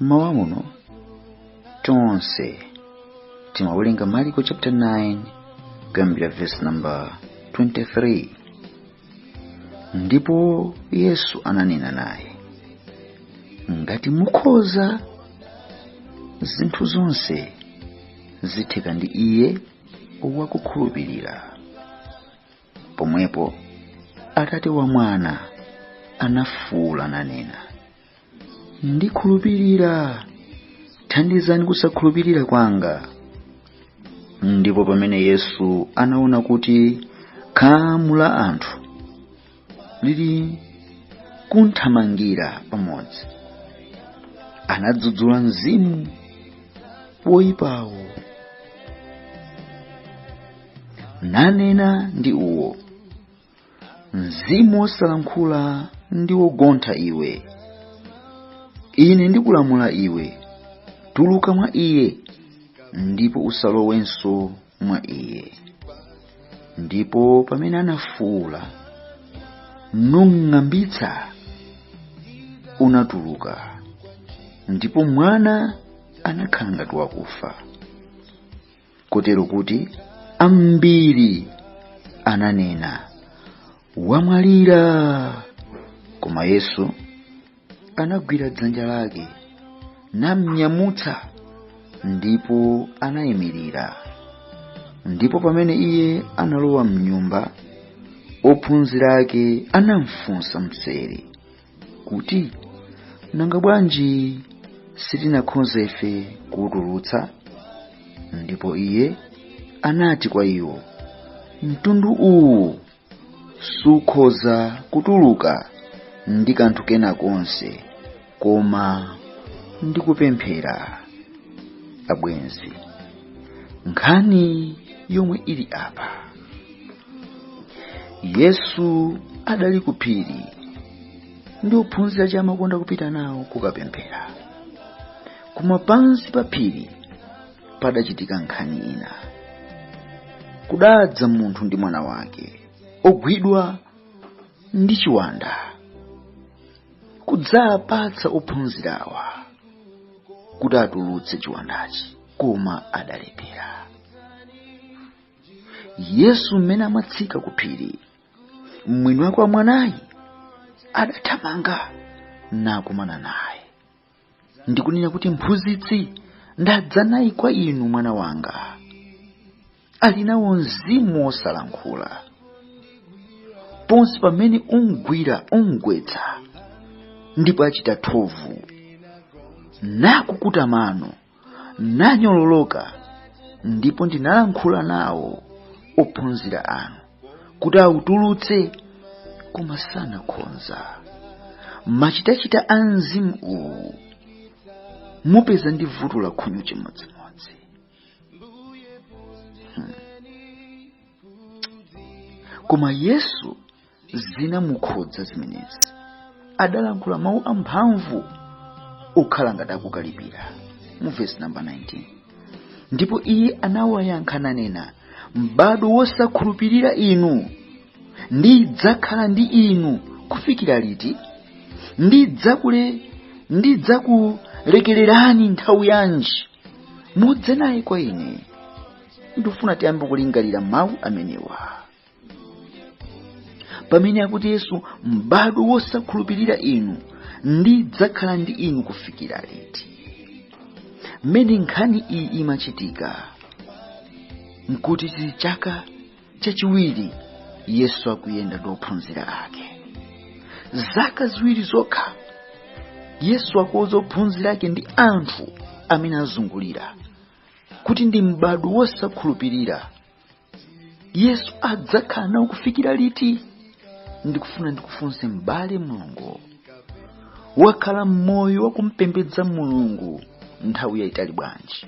mmawa muno tonse timawerenga mariko chapter 9 kuyambira verse number 23 ndipo yesu ananena naye ngati mukhoza zinthu zonse zitheka ndi iye wakukhulupirira pomwepo atate wa mwana anafuula nanena ndikhulupirira thandizani kusakhulupirira kwanga ndipo pamene yesu anaona kuti khamu la anthu lili kuthamangira pamodzi anadzudzula mzimu woyipawo nanena ndi uwo mzimu wosalankhula ndi wogontha iwe ine ndikulamula iwe tuluka mwa iye ndipo usalowenso mwa iye ndipo pamene anafuula numng'ambitsa unatuluka ndipo mwana anakhala ngati wakufa kotero kuti ambiri ananena wamwalira koma yesu anagwira dzanja lake namnyamutsa ndipo anayimirira ndipo pamene iye analowa mnyumba ophunzira ake anamfunsa mseri kuti nanga bwanji sitinakhoza ife kuwutulutsa ndipo iye anati kwa iwo mtundu uwu sukhoza kutuluka ndi kanthu kena konse koma ndi kupemphera abwenzi nkhani yomwe ili apa yesu adali ku phiri ndi ophunzira aja amakonda kupita nawo kukapemphera koma pansi pa phiri padachitika nkhani ina kudadza munthu ndi mwana wake ogwidwa ndi chiwanda kudzapatsa ophunzirawa kuti atulutse chiwandachi koma adalephera yesu mmene amatsika ku phiri mwini wake wa mwanayi adathamanga nakumana naye ndi kunena kuti mphunzitsi ndadza naye kwa inu mwana wanga ali nawo mzimu wosalankhula ponse pamene umgwira umgwetsa ndipo achita thovu nakukuta mano nanyololoka ndipo ndinalankhula nawo ophunzira anu kuti autulutse koma sanakhonza machitachita a mzimu uwu mupeza ndi vuto la khunyu chimodzimodzi hmm. koma yesu zinamukhudza zimenezi adalankhula mawu amphamvu okhala ngati akukalipira mu vesi namba 19 ndipo iye anawayankha nanena m'bado wosakhulupirira inu ndidzakhala ndi inu kufikira liti ndidzakule ndidzakulekererani nthawi yanji mudze naye kwa ine ndifuna tiyambe kulingalira mawu amenewa pamene akuti yesu m'bado wosakhulupirira inu ndidzakhala ndi inu kufikira liti mmene nkhani iyi imachitika nkuti chili chaka chachiwiri yesu akuyenda ndi ophunzira ake zaka ziwiri zokha yesu akuuza ophunzira ake ndi anthu amene azungulira kuti ndi m'bado wosakhulupirira yesu adzakhala nawo kufikira liti ndikufuna ndikufunse m'bale mlongo wakhala moyo wakumpembedza mulungu nthawi yayitali bwanji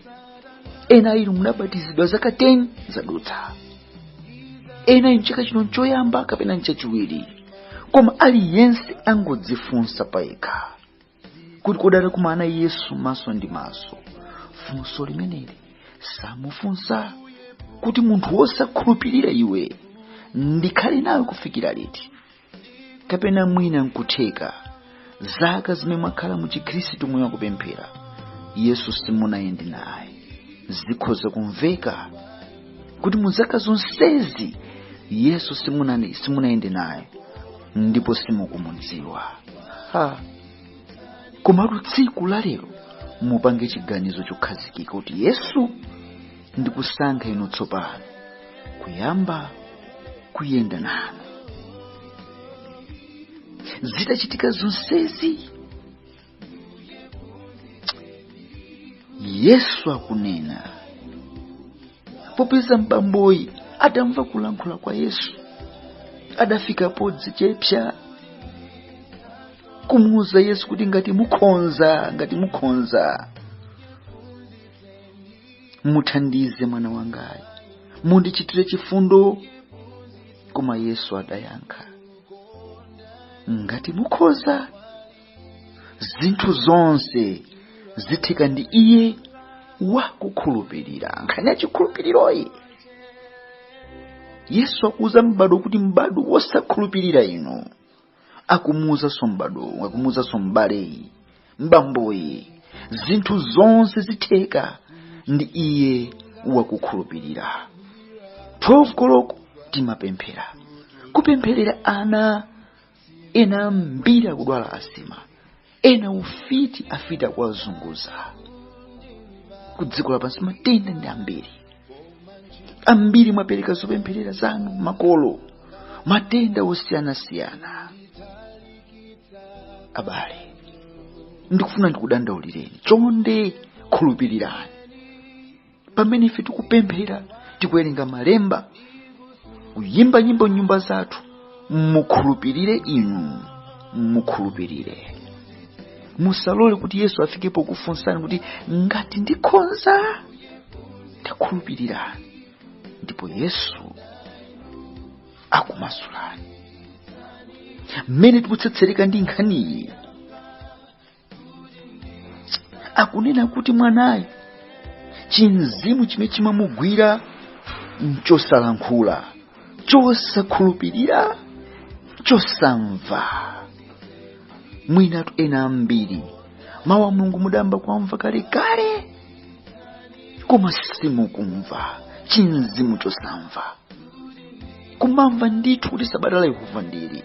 ena inu munabatizidwa zaka 10 zadutsa ena inu chaka chino nchoyamba kapena nchachiwiri koma aliyense angodzifunsa payekha kuti kodi atakumana yesu maso ndi maso funso limeneli samufunsa kuti munthu wosakhulupirira iwe ndikhale nawe kufikira liti kapena mwina nkutheka zaka zimene mwakhala mu chikhristu moyo wakupemphera yesu simunayende naye zikhoza kumveka kuti mu zaka zonsezi yesu simunani- simunayende naye ndipo simukumudziwa ha komatu tsiku la lero mupange chiganizo chokhazikika kuti yesu ndikusankha inu tsopano kuyamba kuyenda nanu zitachitika zonsezi yesu akunena popeza m'bamboyi adamva kulankhula kwa yesu adafika podzichepsa kumuuza yesu kuti ngati mukhonza ngati mukhonza muthandize mwana wangayi mundichitire chifundo koma yesu adayankha ngati mukhoza zinthu zonse zitheka ndi iye wakukhulupirira nkhani ya chikhulupiriroyi yesu akuuza m'bado kuti m'bado wosakhulupirira inu akumuuzanso m'bado akumuuzanso m'baleyi m'bamboyi zinthu zonse zitheka ndi iye wakukhulupirira 12 koloko timapemphera kupempherera ana ena ambiri akudwala asima ena ufiti afiti akuwazunguza ku dziko lapansi matenda ndi ambiri ambiri mwapereka zopempherera zanu makolo matenda osiyanasiyana abale ndikufuna ndikudandaulireni chonde khulupirirani pamene ife tikupemphera tikuwerenga malemba kuyimba nyimbo m'nyumba zathu mukhulupirire inu mukhulupirire musalole kuti yesu afike pokufunsani kuti ngati ndikhonza takhulupirirani ndipo yesu akumasulani mmene tikutsetsereka ndi nkhaniyi akunena kuti mwanayi chimzimu chimene chimamugwira nchosalankhula chosakhulupirira chosamva mwinatu ena ambiri mawu a mulungu mudayamba kuwamva kalekale koma simukumva chimzimu chosamva kumamva ndithu kuti sabata la yehova ndili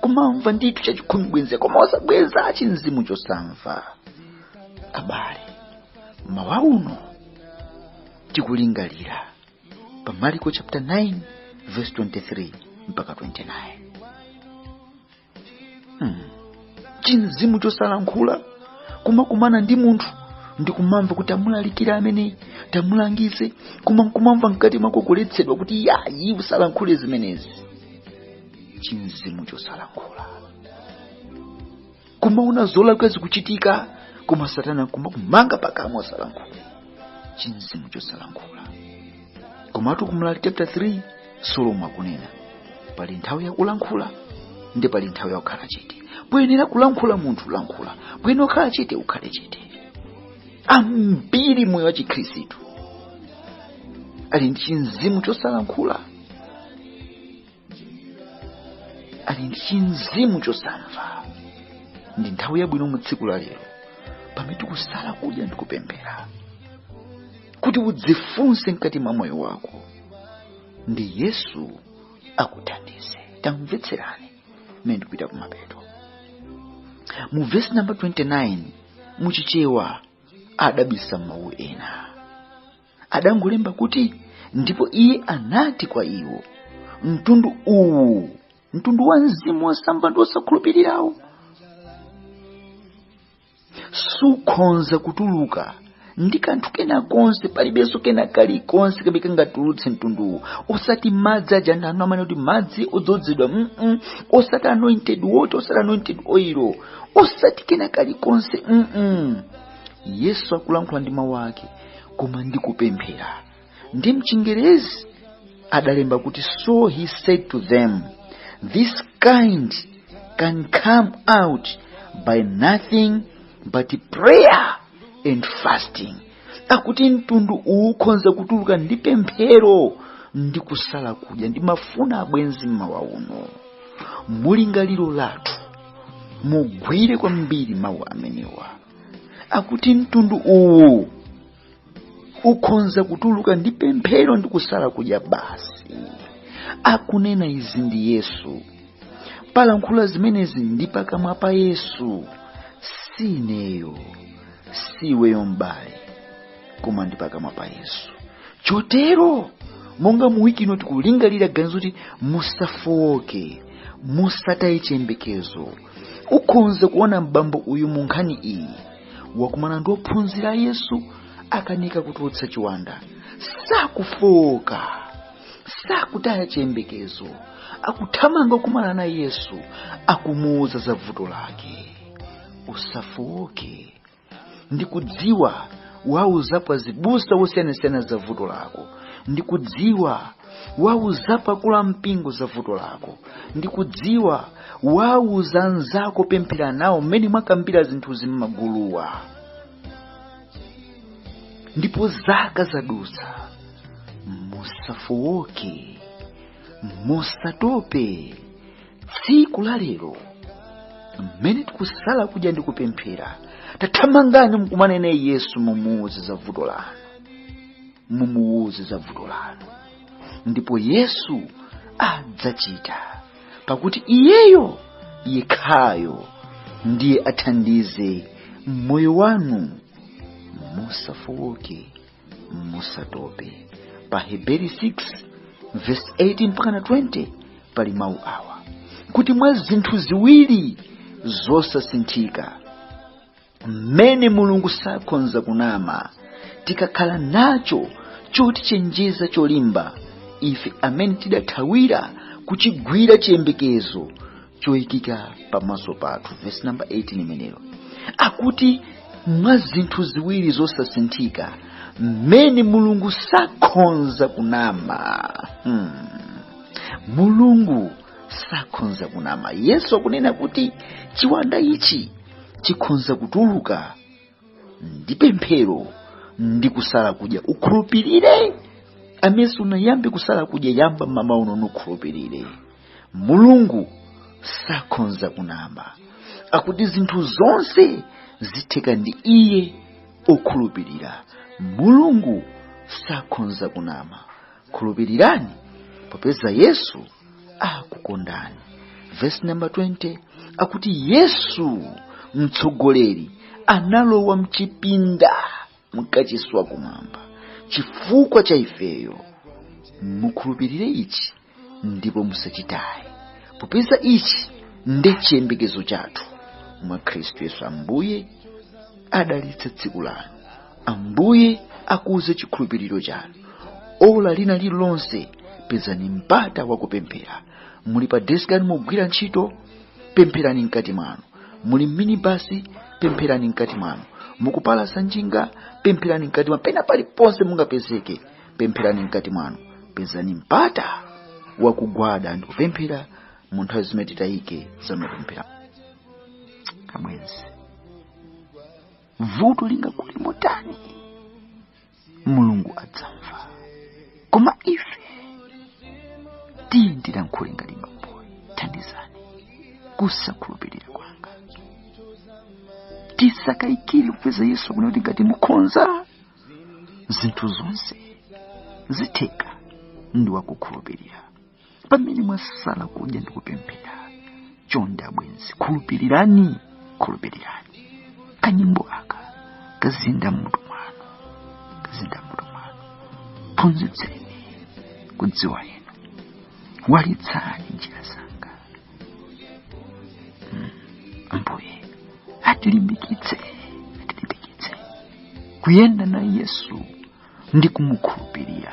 kumamva ndithu chachikhumi bwenze koma osabweza chimzimu chosamva abale m'mawa uno tikulingalira pa maliko chapter 9 verse 23 mpaka 29 hmm. chimzimu chosalankhula kumakumana ndi munthu ndikumamva kuti tamulalikira ameneyi tamulangize koma nkumamva mkati mwako kuletsedwa kuti yayi usalankhule zimenezi chimzimu chosalankhula kumaona zolakwika zikuchitika koma satana kumakumanga pakamwa osalankhula chimzimu chosalankhula komatu ku mlaliki chapter 3 solomoni akunena pali nthawi yakulankhula ndi pali nthawi yakukhala chete poyenera kulankhula munthu lankhula poyenera kukhala chete ukhale chete ambiri moyo wa chikhristu ali ndi chimzimu chosalankhula ali ndi chimzimu chosamva ndi nthawi yabwino mu tsiku la lero pamene tikusala kudya ndi kupemphera kuti udzifunse mkati mwa moyo wako ndi yesu akuthandize tamvetserani mmene ndikupita kumapeto mu vesi namba 29 muchichewa adabisa mawu ena adangolemba kuti ndipo iye anati kwa iwo mtundu uwu mtundu wa mzimu wosamva ndi wosakhulupirirawo sukhonza kutuluka ndi kanthu kena konse palibenso kena kalikonse kamene kangatulutse mtunduwu osati madzi aja anthu ano amanena kuti madzi odzozedwa mm osati anointed water osati anointed oil osati kena kalikonse mm yesu akulankhula ndi mawu ake koma ndi kupemphera ndi mchingerezi adalemba kuti so he said to them this kind can come out by nothing but prayer and fasting akuti mtundu uwu ukhonza kutuluka ndi pemphero ndi kusala kudya ndimafuna abwenzi mmawa uno mu lingaliro lathu mugwire kwambiri mawu amenewa akuti mtundu uwu ukhonza kutuluka ndi pemphero ndi kusala kudya basi akunena izi ndi yesu palankhula zimenezi ndi pakamwa pa yesu si ineyo si iweyo m'bale koma ndi pakamwa pa yesu chotero monga mu wiki ino tikulingalira ganizo kuti musafooke musataye chiyembekezo ukhonza kuona m'bambo uyu mu nkhani iyi wakumana ndi ophunzira a yesu akanika kutulutsa chiwanda sakufooka sakutaya chiyembekezo akuthamanga kukumana na yesu akumuuza za vuto lake usafooke ndikudziwa wauzapo azibusa wosiyanasiyana za vuto lako ndikudziwa wauzapo akulu a mpingo za vuto lako ndikudziwa wauza anzako pemphera nawo mmene mwakambira zinthu zimmaguluwa ndipo zaka zadutsa musafooke musatope tsiku la lero mmene tikusala kudya ndi kupemphera tathamangani mukumane naye yesu mumuuze za vuto lanu mumuuze za vuto lanu ndipo yesu adzachita pakuti iyeyo yekhayo ndiye athandize moyo wanu musafooke musatope pa aheberi 6 verse 18 mpaka na 20 pali mawu awa kuti mwa zinthu ziwiri zosasinthika mmene mulungu sakhonza kunama tikakhala nacho chotichenjeza cholimba ife amene tidathawira kuchigwira chiyembekezo choikika pamaso pathu vesi namba 18 imeneyo akuti mwa zinthu ziwiri zosasinthika mmene mulungu sakhonza kunama hmm. mulungu sakhonza kunama yesu akunena kuti chiwanda ichi chikhonza kutuluka ndi pemphero ndi kusala kudya ukhulupirire amene sunayambe kusala kudya yamba mmawa uno nukhulupirire mulungu sakhonza kunama akuti zinthu zonse zitheka ndi iye okhulupirira mulungu sakhonza kunama khulupirirani popeza yesu akukondani vesi namba 20 akuti yesu mtsogoleri analowa mchipinda mkachisi wa kumwamba chifukwa cha ifeyo mukhulupirire ichi ndipo musachitaye popeza ichi ndi chiyembekezo chathu mwa khristu yesu ambuye adalitse tsiku lanu ambuye akuze chikhulupiriro chanu ola lina lililonse pezani mpata wakupemphera muli pa deski yanu mugwira ntchito pempherani mkati mwanu muli mminibasi pempherani mkati mwanu mukupalasa njinga pempherani mkati mwanu pena paliponse mungapezeke pempherani mkati mwanu pezani mpata wakugwada ndi kupemphera mu nthawi zimene titayike za mapemphero abwenzi vuto lingakule motani mulungu adzamva koma ife tiye tilankhule ngati bamboyu thandizani kusakhulupirira kwanga tisakayikire pakuti yesu akunena kuti ngati mukhonza zinthu zonse zitheka ndi wokhulupirira pamene mwasala kudya ndi kupemphera chonde abwenzi khulupirirani khulupirirani kanyimbo aka kazinda mutu mwanu kazinda mutu mwanu phunzitseni kudziwa inu walitsani njira zanga Mm, ambuye atilimbikitse atilimbikitse kuyenda na yesu ndi kumukhulupirira